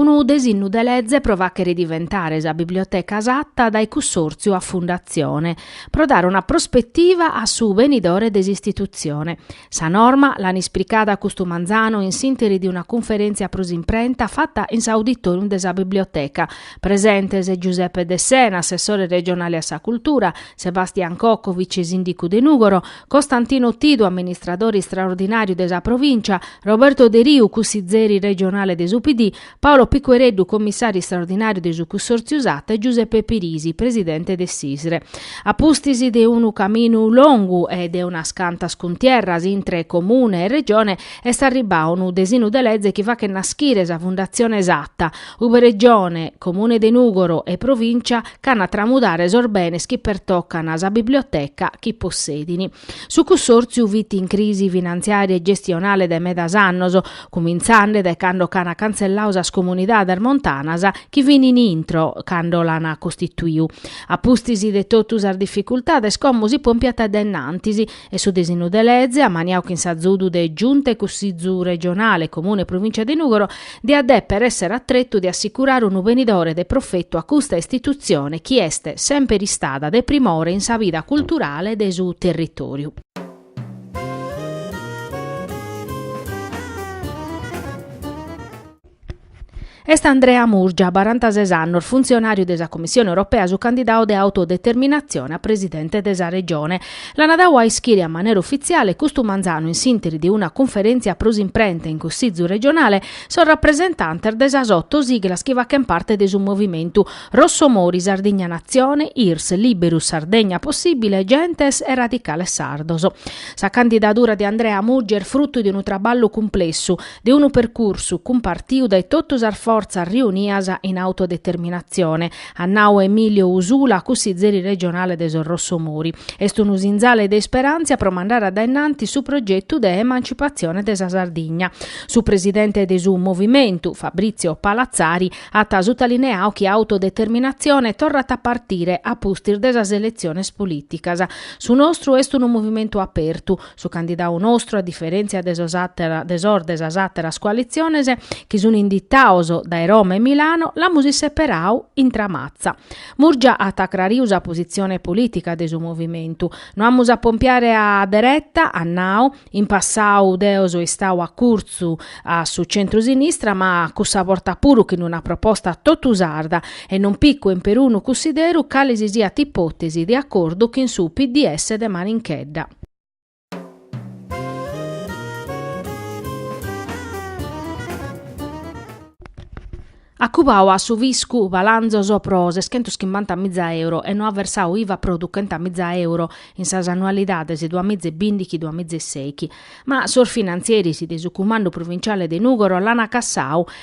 Unu desinnu de leze pro fàchere diventare sa biblioteca Satta dae cussòrtziu a fundatzione, pro dare una prospetiva a su benidore de s'istitutzione, Sa norma l'an isplicada custu manzanu in s'interi de una cunferèntzia pro s'imprenta fata in s'auditòrium de sa Biblioteca. Presentes Giuseppe Dessena, assessore regionale a sa cultura, Sebastian Cocco, vicesìndicu de Nùgoro, Costantino Tidu, amministradore istraordinàriu de sa provìncia, Roberto Deriu, cussizeri regionale de su PD, Paolo Piquereddu, commissàriu istraordinàriu de su cussòrtziu Satta e Giuseppe Pirisi, presidente de s'ISRE. A pustis de unu caminu longu e de unas cantas cuntierras intre Comune e Regione est arribbau unu desinu de leze chi fachet naschire sa Fundatzione Satta, ube Regione, Comune de Nùgoro e Provìncia ch'an a tramudare sos benes chi pertocan sa biblioteca chi possedin. Su cussòrtziu fit in crisi finantziària e gestionale dae medas annos, cumintzende dae cando ch'an cantzellau sas comunidades montanas chi fin in intro cando l'an costituiu. A pustis de totu sas dificultades como si pòmpiat dae innantis e su disinu de leze, ammaniau chin s'azudu de Giunta e Cussizu Regionale, Comune e Provìncia de Nùgoro, diat dèpere èssere a tretu de assicurare unu benidore de profetu a custa istitutzione chi est semper istada de primore in sa vida culturale de su territòriu. Est Andrea Murgia, barantasès annos, funtzionàriu de sa Commissione Europea su candidau de Autodeterminatzione a presidente de sa Regione. L'ana dau a ischire a manera ufitziale custu manzanu in s'interi de una cunferèntzia pro s'imprenta in Cussizu regionale sos rapresentantes de sas oto siglas chi fachen parte de su movimentu: Rossomori, Sardigna Natzione, Irs, Liberu, Sardegna Possibile, Gentes e Radicales Sardos. Sa candidadura de Andrea Murgia est frutu de unu traballu cumplessu, de unu percursu cumpartiu dae totu sas fortzas riunias in autodeterminatzione, at nau Emilio Usula, cussizeri regionale de sos Rossomori. Est unu sinzale de isperàntzia pro mandare a dae innantis su progetu de emancipatzione de sa Sardigna. Su presidente de su Movimentu, Fabrizio Palazzari, at sutalineau chi Autodeterminatzione torrat a partire a pustis de sas eletziones polìticas. Su nostru est unu movimentu apertu, Su candidau nostru, a diferèntzia de sos de sas àteras coalitziones, chi sun inditaos dae Roma e Milano, l'amus isseperadu in Tramatza. Murgia at acrariu sa positzione polìtica de su movimentu. No amus a pompiare a dereta, at nau, in passau deo so istau acurtzu a su centru-sinistra ma cussa borta puru chin una proposta totu sarda e non picu in perunu cussideru cale si siat ipòtesi de acordu chin su PDS de Maninchedda. At cubau a su fiscu balanzos pro seschentos chimbanta miza euro e no at versau iva pro duchenta miza euro in sas annualidades duas miza e bindighi duas miza e seichi. Ma sos finantzieris de su cumandu provinciale de Nùgoro l'ant cassau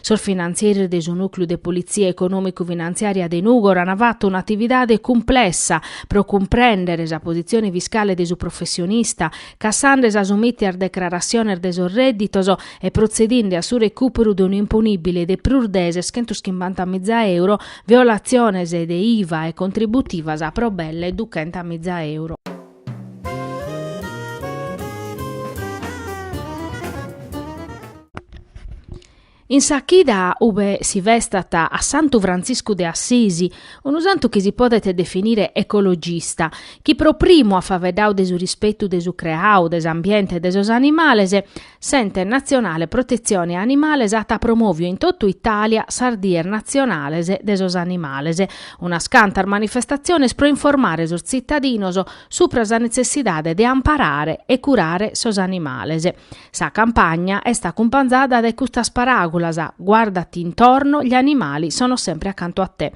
Sos finantzieris de su Nùcleu de Politzia Econòmicu-Finantziària de Nùgoro ant fatu un'atividade cumplessa pro cumprèndere sa positzione fiscale de su professionista, cassende sas umìtias decrarassiones de sos rèdditos e protzedinde a su recùperu de un'imponìbile de prus de seschentoschimbanta miza euro, violatziones de IVA e contributivas pro belle duchenta miza euro. In sa chida ube si festat a Santu Frantziscu de Assisi, unu santu chi si podet definire ecologista, chi pro primu at faveddau de su rispetu de su creau, de s'ambiente e de sos animales, S'Ente Natzionale Protetzione Animales at promòviu in totu Itàlia sas dies natzionales de sos animales, unas cantas manifestatziones pro informare sos tzitadinos supra sa netzessidade de amparare e curare sos animales. Sa campagna est acumpanzada dae custas paràgulas, Guàrdati intorno, gli animali sono sempre accanto a te.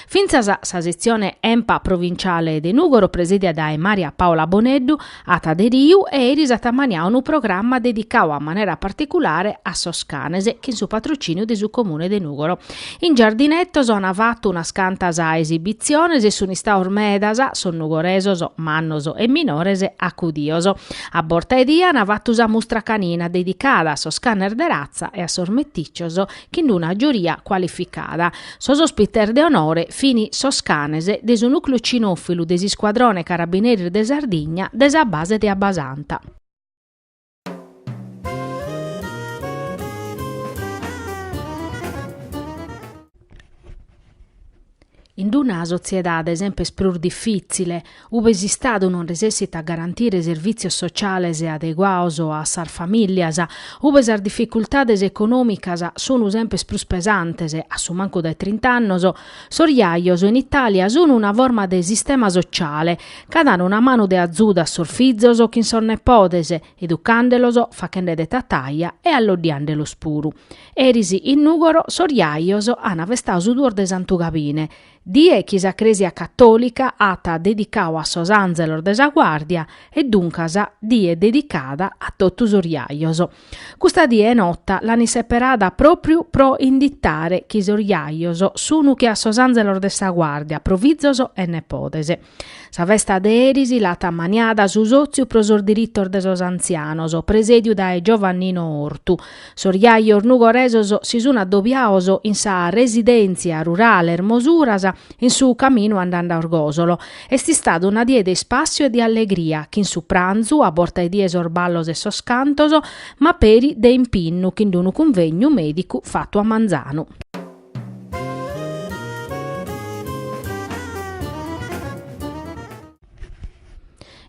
Fintzas sa setzione Enpa provinciale de Nùgoro, presìdia dae Maria Paola Boneddu, At aderiu e eris at ammaniau unu programma dedicau a manera particulare a sos canes, chin su patrociniu de su Comune de Nùgoro. In Giardinettos an fatu unas cantas esibitziones e sun istaos medas sos nugoresos, mannos e minores, acudios. A borta 'e die an fatu sa mustra canina dedicada a sos canes de ratza e a sos meticcios chin d'una giuria cualificada. Sos ospites de onore fin sos canes de su nùcleu cinòfilu de s'Iscuadrone Carabineres de Sardigna de sa base de Abbasanta. In d-una sotziedade sempes prus difìtzile, ube s'Istadu non resessit a garantire servìtzios sotziales adeguaos a sas famìllias, ube sas dificultades econòmicas sunu sempes prus pesantes, a su mancu dae trint'annos, sos jajos in Itàlia sunu una forma de sistema sotziale ca dan una manu de azuda a sos fizos chin sos nepodes, educàndelos, fachende de tataja e alloddiàndelos puru. Eris in Nùgoro sos jajos ant festau su duos de Santu Gabine, die chi sa Crèsia catòlica at dedicau a sos ànzelos de sa guàrdia e duncas die dedicada a totu sos jajos. Custa die 'e nota l'ant isseperada pròpriu pro inditare chi sos jajos sunu che a sos ànzelos de sa guàrdia, pro fizos e nepodes. Sa festa de eris l'at ammaniada su sòtziu pro sos diritos de sos antzianos, presèdiu dae Giovannino Ortu. Sos jajos nugoresos si sun addobiaos in sa residèntzia rurale Ermosuras, in su caminu andande a Orgòsolo. Est istada una die de ispàssiu e de allegria, chin su pranzu, a borta 'e die sos ballos e sos cantos, ma peri de impinnu chin d'unu cunvegnu mèdicu fatu a manzanu.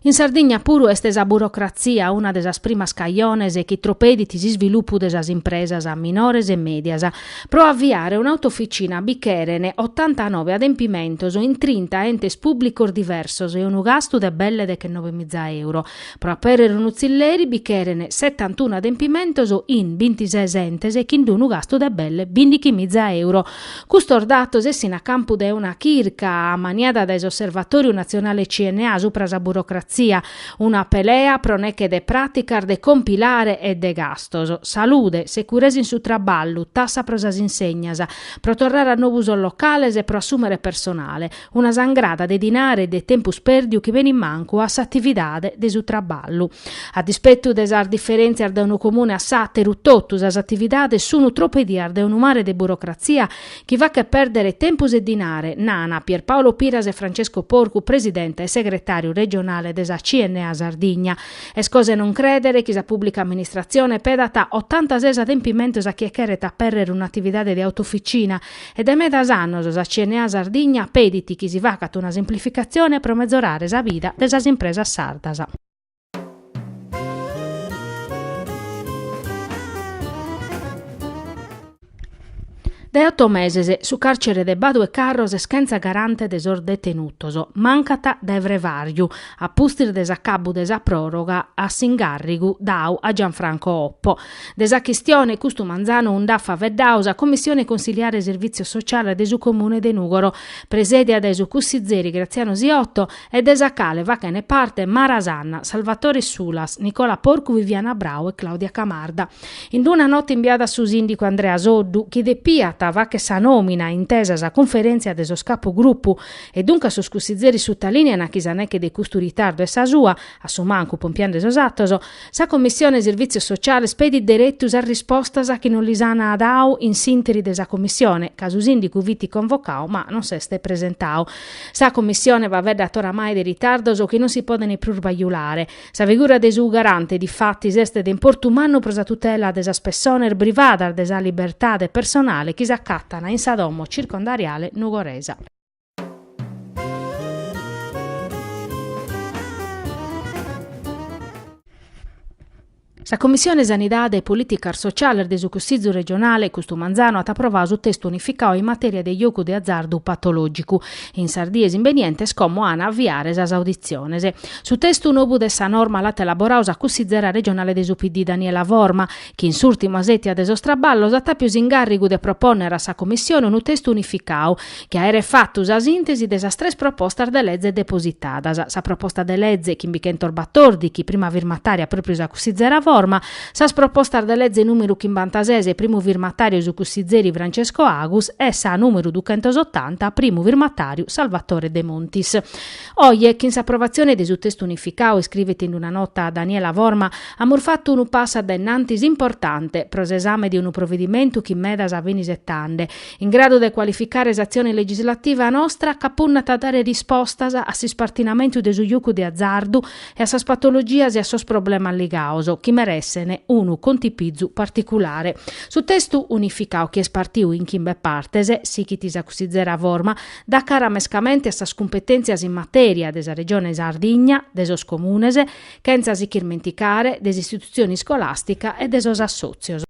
In Sardigna puru est sa burocratzia una de sas primas cajones chi tropedit s'isvilupu de sas impresas minores e mèdias. Pro aviare un'autoficina bi cheren otantanove adempimentos in trinta entes pùblicos diversos e unu gastu de belle dechenovemiza euro. Pro apèrrere unu tzilleri bi cheren setantunu adempimentos in bintises entes chin d'unu gastu de belle bindichimiza euro. Custos datos essint a campu de una chirca ammaniada dae s'Osservatoriu Natzionale CNA supra sa burocratzia, una pelea pro nèche de pràticas de compilare e de gastos, salude, securesa in su traballu, tassa pro sas insegnas, pro torrare a nobu sos locales e pro assùmere personale, Una sangrada de dinare e de tempus pèrdiu chi benit mancu a s'atividade de su traballu. A dispetu de sas diferèntzias dae unu comune a s'àteru, totu sas atividades sunu tropedias de unu mare de burocratzia chi fachet pèrdere tempus e dinare, nana Pierpaolo Piras e Francesco Porcu, presidente e segretàriu regionale de sa CNA Sardigna. Est cosa 'e non crèdere chi sa pùblica amministratzione pedata otantases adempimentos a chie cheret apèrrere un'atividade de autoficina, E dae medas annos sa CNA Sardigna pedit chi si facat una simplificatzione pro mezorare sa vida de sas impresas sardas. Dae oto meses su càrcere de Badu 'e Carros est chentza garante de sos detenutos, mancat dae frevàriu, a pustis de s'acabu de sa pròroga a s'ingàrrigu dau a Gianfranco Oppo. De sa chistione custu manzanu nd'at faeddadu sa Commissione Consiliare Sirvìtzios Sociales de su Comune de Nùgoro, presèdia dae su cussizeri Graziano Siotto e de sa cale fachene parte Mara Sanna, Salvatore Sulas, Nicola Porcu, Viviana Brau e Claudia Camarda. In una nota imbiada a su sìndicu Andrea Soddu, chi depiat fàghere sa nòmina intesa sa Cunferèntzia de sos Capugrupu, e duncas sos cussizeris sutalìnean chi sa neche de custu ritardu est sa sua, a su mancu pompiende sos atos, Sa Commissione Sirvìtzios Sociales pedit deretu sas rispostas chi non lis ana dadu in s'interi de sa Commissione, ca su sìndicu fit convocadu ma non s'est presentadu. Sa Commissione faveddat oramai de ritardos chi non si podent prus bajulare. Sa figura de su Garante, difatis, est de importu mannu pro sa tutela de sas pessones privadas de sa libertade personale chi s'acatana in sa domo circondariale Nugoresa. Sa Commissione Sanidade e Políticas Sociales de su Cussìgiu Regionale, custu manzanu, at aprovadu su testu unificau in matèria de jogu de azardu patològicu, in sas dies imbenientes como an a aviare sas auditziones. Su testu nobu de sa norma l'at elaboradu sa cussìgera regionale de su PD Daniela Forma, chi in s'ùrtima sètia de sos traballos at àpiu s'ingàrrigu de propònnere a sa Commissione unu testu unificadu, chi aeret fatu sa sìntesi de sas tres propostas de leze depositadas, sa proposta de leze chimbichentos batordighi, prima firmatària pròpriu sa cussizera Forma, sas propostas de leze nùmeru chimbantases, primu firmatàriu su cussizeri Francesco Agus, e sa nùmeru duchentos otanta, primu firmatàriu Salvatore Demontis. Oje, chin s'approvatzione de su testu unificadu, iscrivet in una nota Daniela Forma, amus fatu unu passu a dae innantis importante pro s'esame de unu provedimentu chi medas fini isetende, in gradu de cualificare s'atzione legislativa nostra ca punnat a dare rispostas a s'ispartinamentu de su jocu de azardu e a sas patologias e a sos problemas ligados, chi meressene unu contipizu particulare. Su testu unificadu chi est partiu in chimbe partes, sighit sa cussizera Forma, dat cara mescamente a sas cumpetèntzias in matèria de sa Regione Sardigna, de sos Comunes, chentza si ch'irmenticare de s'istitutzione iscolàstica e de sos assòtzios.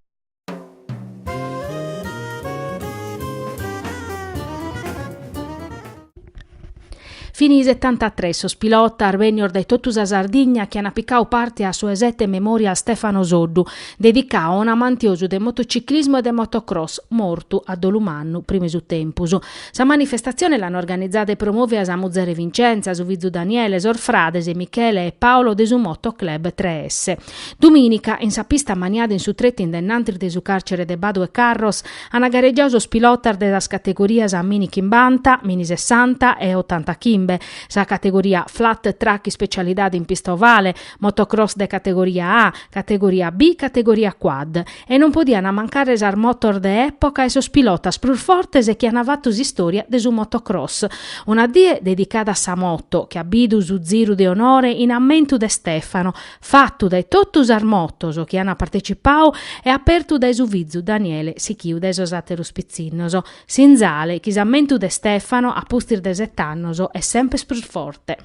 Fini setantatres sos pilotas bènnios dae totu sa Sardigna chi ant picadu parte a su 'e sete Memorial Stefano Soddu, dedicadu a un'amantiosu de motociclismu e de motocross, mortu a dolu mannu, prima 'e su tempus. Sa manifestatzione l'ant organizada e promòvia sa muzere Vincenza, su fizu Daniele, sos frades Michele e Paolo de su Moto Club Tres Esse. Dumìnica, in sa pista ammaniada in su tretu in dae in antis de su càrcere de Badu e Carros, ant garegiau sos pilotas de sas categorias Mini Chimbanta, Mini Sessanta e Otanta Chimbe, sa categoria Flat Track ispecialidade in pista ovale, Motocross de categoria A, categoria B, categoria Quad. e non podiant mancare sas motos de època e sos pilotas prus fortes chi ant fatu s'istòria de su motocross. Una die dedicada a sa moto, chi at bidu su ziru de onore in ammentu de Stefano, fatu dae totu sas motos chi ant partecipau e apertu dae su fizu Daniele sichiu dae sos àteros pitzinnos. Sinzale chi s'ammentu de Stefano, a pustis de set'annos, est semper prus forte.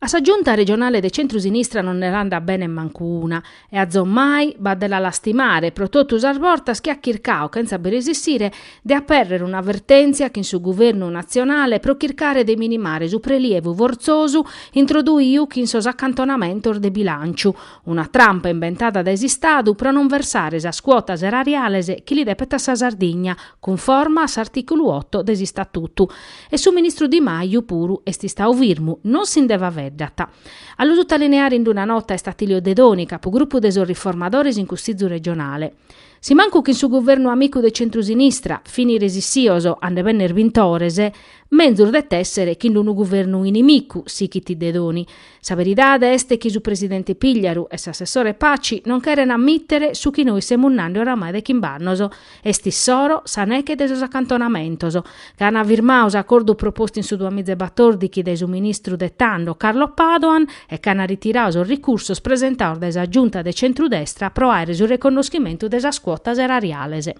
A sa Giunta regionale de centru-sinistra non nde andat bene mancu una, e azomai b'at de la lastimare pro totu sas vortas chi at chircao, chentza bi resissire, de apèrrere una vertèntzia chin su Guvernu natzionale pro chircare de minimare su prelievu fortzosu introduiu chin sos acantonamentos de bilànciu, Una trampa inventada dae s'Istadu pro non versare sas cuotas erariales chi li depet a sa Sardigna, cunforma a s'artìculu oto de s'Istatutu. E su ministru Di Maju puru est istau firmu, non si nde faveddat. A lu sutalineare ind una nota est Attilio Dedoni, capu grupu de sos Riformadores in Cussìzu regionale. Si mancu chin su guvernu amicu de centrusinistra, fini resissios a nde benner bintores, menzus det èsser chin d'unu guvernu inimicu, sichit Dedoni, Sa veridade est chi su presidente Pigliaru e s'assessore Paci non cheren ammitere su chi nois semus nande oramai de chimb'annos, est issoro sa neche de sos acantonamentos, ca an firmao s'acordu propostu in su duamizaebatordichi dae su ministru de tando Carlo Padoan e ca an ritirao sos ricursos presentaos dae sa Giunta de centrudestra pro àere su reconnoschimentu de sas cuotas erariales.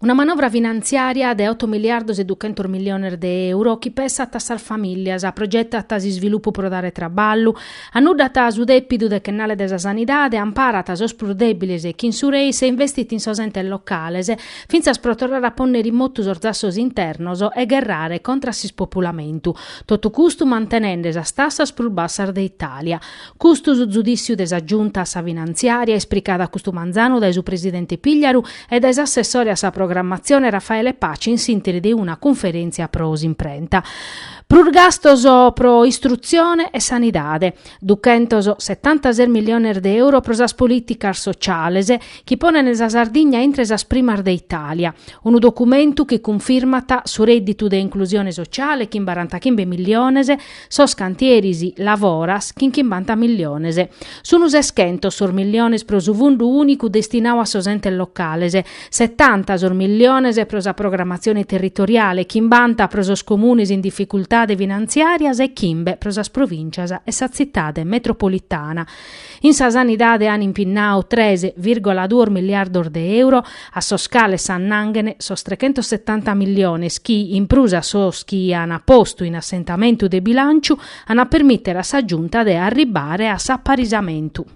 Una manovra finantziària de oto miliardos e duchentos miliones de euro chi pessat a sas famìllias, progetat s'isvilupu pro dare traballu, annuddat su dèpidu dechennale de sa sanidade, amparat sos prus dèbiles e chin su REIS, investit in sos entes locales, fintzas pro torrare a pònnere in motu sos zassos internos e gherrare contra s'ispopulamentu. Totu custu mantenende sas tassas prus bassas de Itàlia. Custu su zudìssiu de sa Giunta a sa Finantziària, ispricada custu manzanu dae su presidente Pigliaru e dae s'assessore a sa programmatzione Raffaele Paci in s'ìnteri de una cunferèntzia pro s'imprenta. Prus gastos pro istrutzione e sanidade. 276 miliones de euro pro sas polìticas sociales chi ponent sa Sardigna intre sas primas de Itàlia. Unu documentu chi cunfirmat su rèdditu de inclusione sociale chin barantachimbe miliones, sos cantieris Lavoras chin chimbanta miliones. Sun seschentos sos miliones pro su fundu ùnicu destinadu a sos entes locales, Setanta sos milliones pro sa programatzione territoriale, chimbanta pro sos comunes in dificultade finantziàrias e chimbe pro sas provìncias e sa tzitade metropolitana. In sa sanidade an impinnadu tres vìrgola duos miliardos de euro, a sos cales s'annanghen sos trechentosetanta milliones chi, in prus a sos chi an postu in assentamentu de bilànciu, an a permìtere a sa Giunta de arribbare a s'aparisamentu.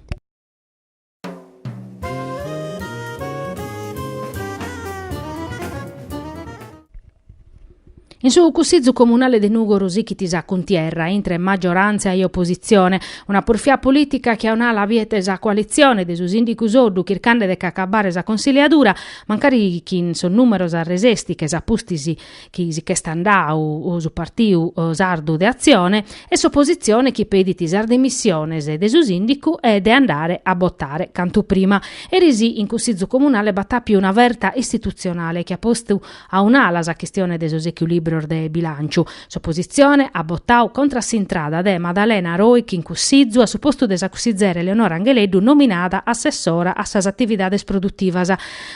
In su Cussizu Comunale de Nùgoro sichit sa cuntierra intre maggioràntzia e opositzione, una purfià polìtica chi a un'ala biet sa coalitzione de su sìndigu Soddu chircande de ch'acabare sa consiliadura, mancari chin sos nùmeros a resesti, ch'est a pustis chi si ch'est andau su Partiu Sardu de Atzione e s'opositzione chi pedit sas dimissiones de su sìndicu e de andare a botare cantu prima. Eris in Cussizu Comunale b'at àpiu una verta istitutzionale chi at postu a un'ala sa chistione de sos echilìbrios de bilànciu. S'opositzione at botau contra a s'intrada de Madalena Roich in Cussizu a su postu de sa cussizere Eleonora Angheleddu nominada assessora a sas atividades produtivas.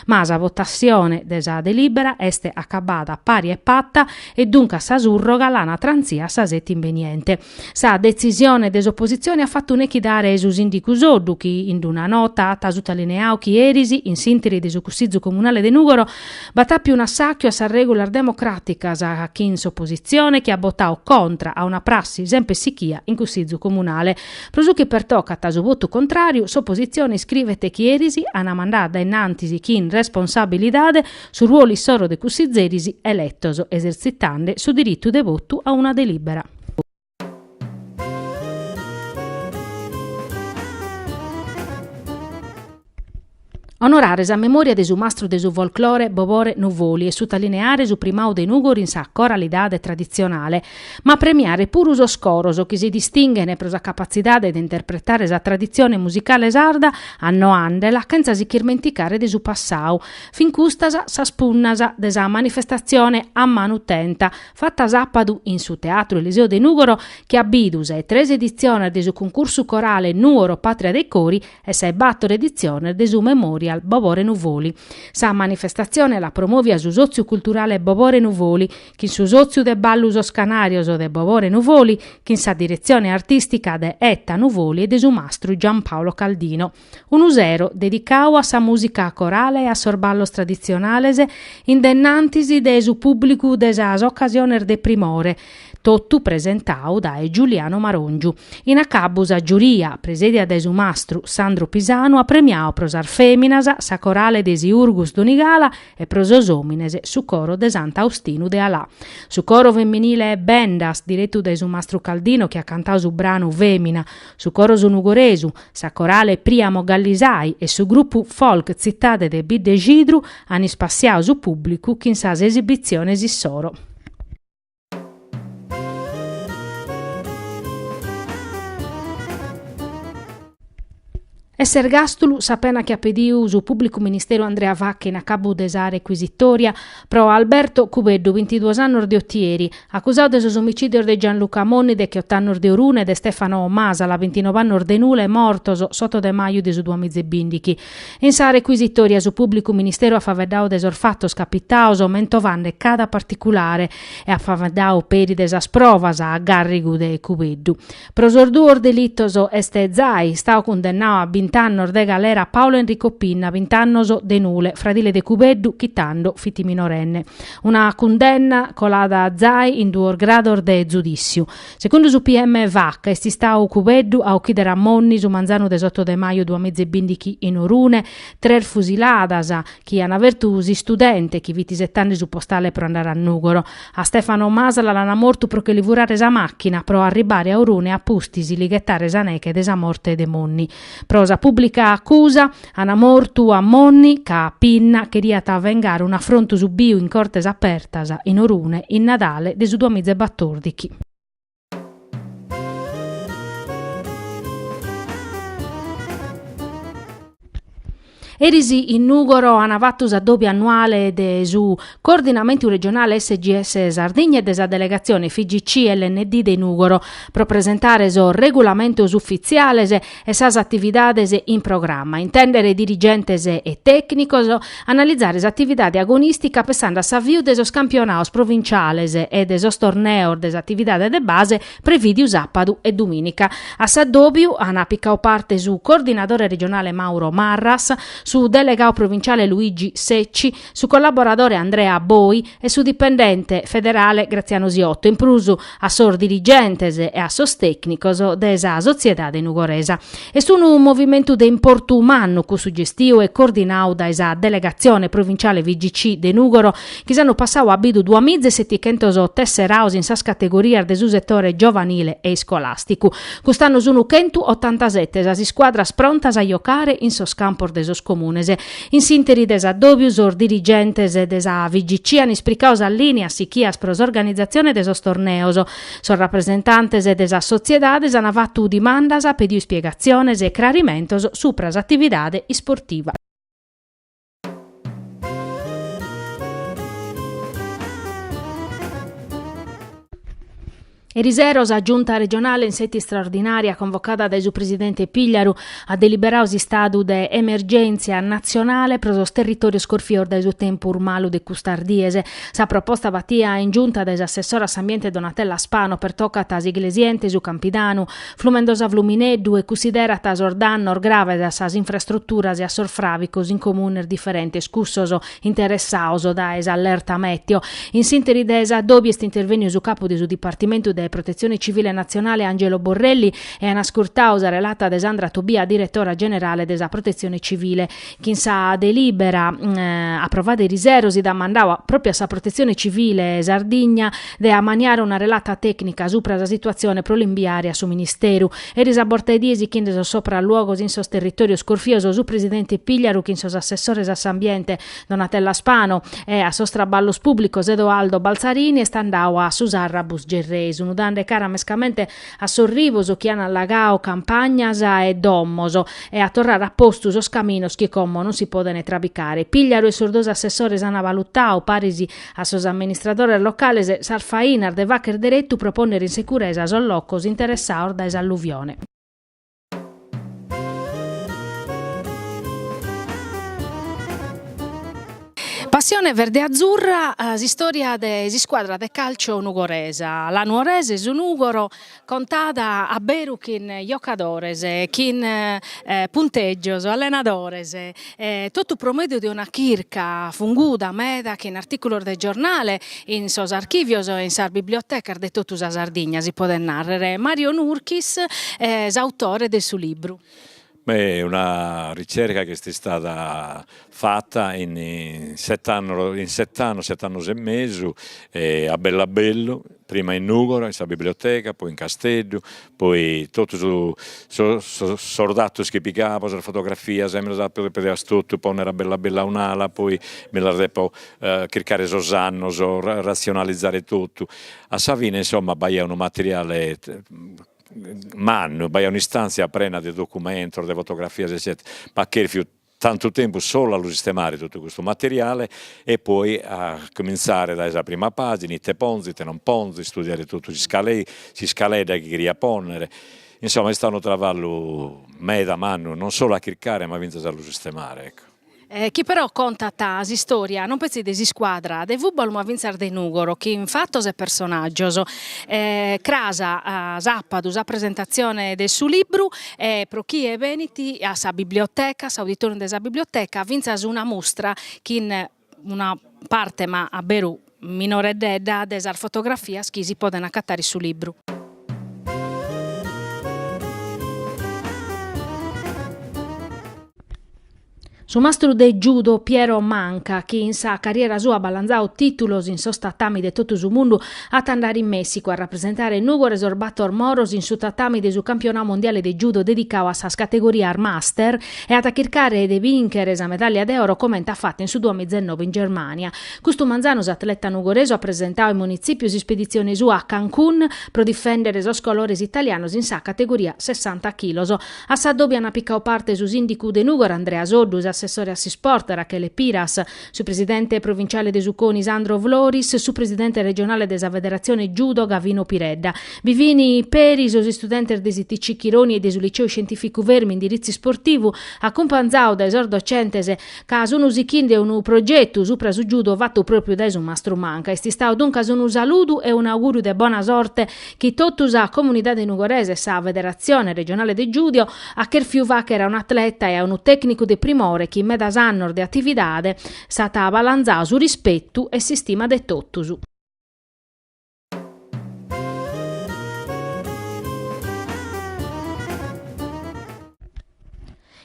Ma sa votatzione de sa delibera est acabada pari e pata e duncas sa surroga l'an a tranzire a sa seti imbeniente. Sa detzisione de s'opositzione at fatu nechidare su sìndigu Soddu chi in d'una nota at sutalineau chi eris, in s'interi de su Cussizu Comunale de Nùgoro, b'at àpiu un'assàchiu a sas règulas democràticas chin s'opositzione chi at botau contra a una prassi semper sichia in Cussizu Comunale. Pro su chi pertocat a su votu contràriu, s'opositzione iscrivet chi eris ant mandadu a dae innantis chin responsabilidade su ruolu issoro de cussizzeris eletos, esertzitande su diritu de votu a una delìbera. Onorare sa memòria de su mastru de su folclore Bobore Nuvoli e sutalineare su primadu de Nùgoro in sa coralidade traditzionale, ma premiare puru sos coros chi si distinghen pro sa capatzidade de interpretare sa traditzione musicale sarda annoandela chentza si ch'irmenticare de su passadu. Fin custas sas punnas de sa manifestatzione a manu tenta, fata sàpadu in su Teatru Eliseo de Nùgoro, chi at bidu ses tres editziones de su cuncursu corale Nuoro, Patria dei Cori, e sa 'e bator editziones de su Memorial Bobore Nuvoli. Sa manifestatzione l'at promòvia su Sòtziu Culturale Bobore Nuvoli, chin su Sòtziu de Ballu Sos Canàrios de Bobore Nuvoli, chin sa diretzione artìstica de Etta Nuvoli e de su mastru Giampaolo Caldino. Unu sero dedicau a sa mùsica corale e a sos ballos traditzionales in dennantis de su pùblicu de sas ocasiones de primore, totu presentau dae Giuliano Marongiu. In acabu sa giuria, presèdia dae su mastru Sandro Pisanu, at premiau pro sas fèminas sa Corale de Siurgus Donigala e pro sos òmines su Coro de Sant'Austinu de Alà. Su Coro Femminile 'e Bendas, diretu dae su mastru Caldino chi at cantau su branu Fèmina, su Coro Su Nugoresu, sa Corale Priamo Gallisai e su grupu folk Tzitade de Biddexidru an ispassiau su pùblicu chin sas esibitziones issoro. Est s'ergàstulu, sa pena chi at pediu su pùblicu ministeru Andrea Vacca in acabu de sa recuisitòria pro Alberto Cubeddu, bintiduos annos de Otieri, acusadu de sos omicìdios de Gianluca Monni decheott'annos de Orune e de Stefano Masala, bintinove annos de Nule e mortos s'oto de maju de su duamiza e bìndichi. In sa recuisitòria su pùblicu ministeru at faveddau de sos fatos capitaos mentovande cada particulare e at faveddau peri de sas provas a gàrrigu de Cubeddu. Pro sos duos delitos est zai istau cundennau a bint'annos de galera Paolo Enrico Pinna, bint'annos de Nule, fradile de Cubeddu chi tando fit minorenne. Una cundenna colada zai in duos grados de zudìtziu. Segundu su PM Vacca est istau Cubeddu a ochidere a Monni su manzanu de s'oto de maju duamiza e bìndichi in Orune, tres fusiladas chi ant fertu s'istudente chi fit isetande su postale pro andare a Nùgoro. A Stefano Masala l'ant mortu pro che li furare sa màchina pro arribbare a Orune a pustis li ghetare sa neche de sa morte de Monni. Pro sa pùblica acusa, an mortu a Monni ca Pinna cheriat vengare un'afrontu subiu in Cortes Apertas in Orune in Nadale de su duamiza e batòrdichi. Eris in Nùgoro an fatu s'addòbiu annuale de su Coordinamentu Regionale SGS Sardigna e de sa delegatzione FIGC LND de Nùgoro pro presentare sos regulamentos ufitziales e sas atividades in programma, intèndere dirigentes e tècnicos, analizare s'atividade agonìstica pensande a s'aviu de sos campionaos provinciales e de sos torneos de s'atividade de base, Prevìdiu sàpadu e dumìnica. A s'addòbiu ant picau parte su coordinadore regionale Mauro Marras, su delegau provinciale Luigi Secci, su collaboradore Andrea Boi e su dipendente federale Graziano Siotto, in prus a sos dirigentes e a sos tècnicos de sa sotziedade nugoresa. Est unu movimentu de importu mannu cussu gestiu e coordinau dae sa Delegatzione Provinciale FIGC de Nùgoro chi s'annu passau at bidu duas miza e setichentos tesseraus in sas categorias de su setore giovanile e iscolàsticu. Cust'annu sunu chentu otantasete sas iscuadras prontas a jocare in sos campos de sos comunes. In s'interi de s'addòbiu sos dirigentes de sa FIGC an ispricau sas lìnias sichias pro s'organizatzione de sos torneos, Sos rapresentantes de sas sotziedades an fatu dimandas, pediu ispiegatziones e crarimentos supra s'atividade isportiva. Erisero sa Giunta regionale in sètia istraordinària convocada dae su presidente Pigliaru at deliberau s'istadu de emergèntzia natzionale pro sos territòrios corfios dae su tempus malu de custas dies. Sa proposta batia in Giunta dae s'assessora a s'Ambiente Donatella Spano pertocat s'Iglesiente, su Campidanu, Flumendosa Flumineddu e cunsiderat sos dannos graves a sas infrastruturas e a sos fràvicos in comunes diferentes cussos interessaos dae s'allerta mèteo. In s'ìnteri de s'addòbiu est intervèniu su capu de su Dipartimentu de Protetzione Civile Natzionale Angelo Borrelli e an ascurtau sa relata de Sandra Tobia, diretora generale de sa Protetzione Civile, chin sa delìbera aprovada erisero si dat mandau pròpiu a sa Protetzione Civile Sardigna de amaniare una relata tècnica supra sa situatzioni pro l'imbiare a su Ministeru. Eris a borta 'e die sichinde sos sopralluogos in sos territòrios corfios su presidente Pigliaru chin sos assessores a s'ambiente Donatella Spano e a sos traballos pùblicos Edoardo Balzarini est andau a su Sarrabus Gerrei sunu dande cara mescamente a sos rivos chi an allagao campagnas e domos e a torrare a postu sos caminos chi como non si podene trabicare. Pigliaru e sos dos assessores an valutao, paris a sos amministradores locales, sas fainas de facher deretu pro ponnere in securesa sos locos interessaos dae s'alluvione. Passione verde-azzurra, s'istòria de s'iscuadra de càlciu nugoresa, la Nuorese su Nùgoro, contada a beru chin jocadores, chin puntègios, allenadores E totu pro mèdiu de una chirca funguda meda chin artìculos de giornale in sos archìvios e in sas bibliotecas de totu sa Sardigna, si podet nàrrere, Mario Nurchis, s'autore de su libru. Beh, una ricerca chi est istada fata in sete annos, in sete annos, sete annos e mesu, a bellu a bellu, prima in Nùgoro in sa biblioteca, poi in Casteddu, poi totu sos sos datos chi picabo, sas fotografias mi las apo dèpias totu pònnere a bellu a bellu a un'ala, poi mi las depo chircare sos annos, ratzionalizare totu, a sa fine insomma b'aiat unu materiale mannu, b'aiat un'istantzia prena de documentos, de fotografias eccetera, ma at cherfiu Tantu tempus solu a lu sistemare totu custu materiale e poi a comintzare dae sa prima pàgina, ite ponzo, ite non ponzo, istudiare totu s'iscaledda chi cheria pònnere, insoma est istadu unu travallu meda mannu, non solu a chircare ma fintzas a lu sistemare ecco. Chi però contat s'istòria non petzi de s'iscuadra de fùbalu ma fintzas de Nùgoro chin fatos e personàgios. Cras sàpadu sa presentatzione de su libru Pro chie benit a sa biblioteca, s'auditorium de sa biblioteca, fintzas una mustra chin una parte ma a beru minoreddedda de sas fotografias chi si podent acatare in su libru. Su mastru de judo Piero Manca, chi in sa carriera sua at balanzau titulos in sos tatami de totu su mundu, at a andare in Messicu a rapresentare Nùgoro e sos bator moros in su tatami de su campionau mondiale de judo dedicau a sas categorias master e at a chircare de binchere sa medaglia de oro comente at fatu in su duamiza e nobe in Germania. Custu manzanu s'atleta nugoresu at presentau in Munitzipiu s'ispeditzione sua a Cancun pro difendere sos colores italianos in sa categoria sessanta chilos. A sa dòbia n'at picau parte su sìndicu de Nùgoro Andrea Soddu, s'assessore a s'isport Rachele Piras, su presidente provinciale de su coni Sandro Floris, su presidente regionale de sa federatzione judo Gavino Piredda. Bi fin peri sos istudentes de s'ITC Chironi e de su Liceu Scientìficu Fermi indiritzu isportivu, acumpanzaos dae sos docentes ca sun sichinde unu progetu supra su judo fatu pròpriu dae su mastru Manca. Est istau duncas unu saludu e un'augùriu de bona sorte chi totu sa comunidade nugoresa e sa Federatzione regionale de judo at cherfiu fàghere a un'atleta e a unu tècnicu de primore chi in medas annos de atividade s'at balanzau su rispetu e s'istima de totus.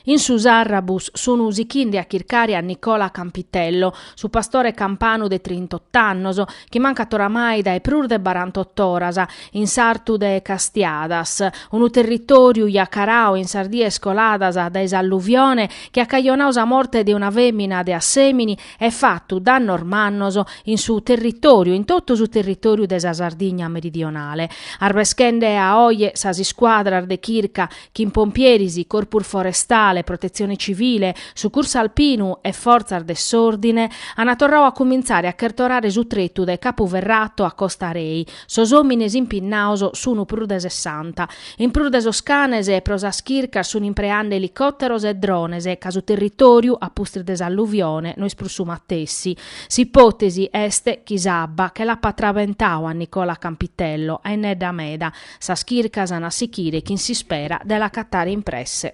In su Sarrabus sunu sichinde a chircare a Nicola Campitello, su pastore campanu de trintott'annos, chi mancat oramai dae prus de barantottoras, in sartu de Castiadas, unu territòriu jacarau in sas dies coladas dae s'alluvione chi at cajonau sa morte de una fèmina de Assèmini e fatu dannos mannos in su territòriu, in totu su territòriu de sa Sardigna meridionale, arbeschende a oje sas iscuadras de chirca chin pompieris, corpus forestale, protetzione civile, sucursu alpinu e fortzas de s'òrdine, ant torradu a cumintzare a chertorare su tretu dae Capu Ferrato a Costa Rei, sos òmines impinnados sunt prus de sessanta. In prus de sos canes pro sas chircas sunt impreende elicòteros e drones ca su territòriu, a pustis de s'alluvione, no est prus su matessi. S'ipòtesi est chi s'abba che l'apat trabentadu a Nicola Campitello, a innedda meda, Sas chircas an a sichire chin s'ispera de l'acatare in presse.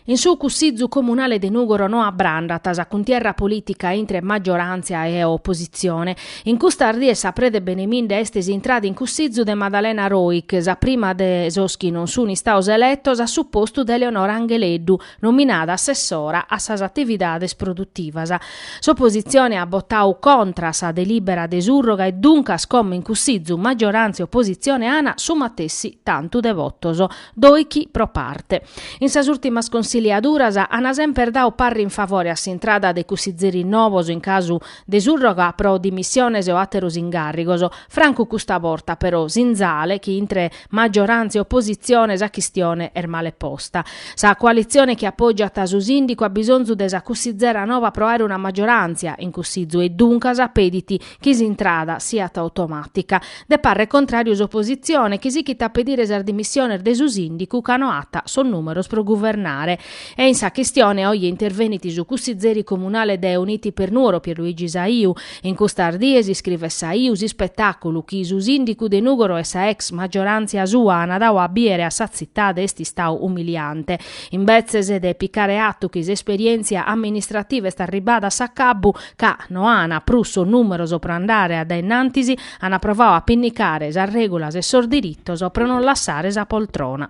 In su Cussizu Comunale de Nùgoro no abbrandat sa cuntierra polìtica intre maggioràntzia e opositzione. In custas dies sa preda 'e benemminde est s'intrada in Cussizu de Maddalena Roich, sa prima de sos chi non sun istados eletos a su postu de Eleonora Angheleddu, nominada assessora a sas atividades produtivas. S'opositzione at botadu contra sa delìbera de surroga e duncas como in Cussizu maggioràntzia e opositzione an su matessi tantu de votos, doichi pro parte. In sas ùrtimas consiliaduras an semper dadu parre in favore a s'intrada de cussizeris novos in casu de surroga pro dimissiones o àteros incàrrigos, francu custa borta però, sinzale chi intre maggioràntzia e oppositzione sa chistione est male posta. Sa coalitzione chi apògiat su sìndicu at bisonzu de sa cussizera nova pro àere una maggioràntzia in cussizu e duncas pedit chi s'intrada siat automàtica. De parre contràriu s'oppositzione chi sighit a pedire sas dimissiones de su sìndicu ca no at sos nùmeros pro guvernare. E in sa chistione oje intervenit su cussizeri comunale de Uniti per Nuoro Pierluigi Saiu In custas dies iscrivet Saiu s'ispetàculu chi su sìndicu de Nùgoro e sa ex maggioràntzia sua ant dadu a bìere a sa tzitade est istadu umiliante. Imbetzes de picare atu chi s'esperièntzia amministrativa est arribbada a s'acabbu, ca no ant prus sos nùmeros pro andare a dae in antis, ant provadu a pinnicare sas règulas e sos diritos pro non lassare sa poltrona.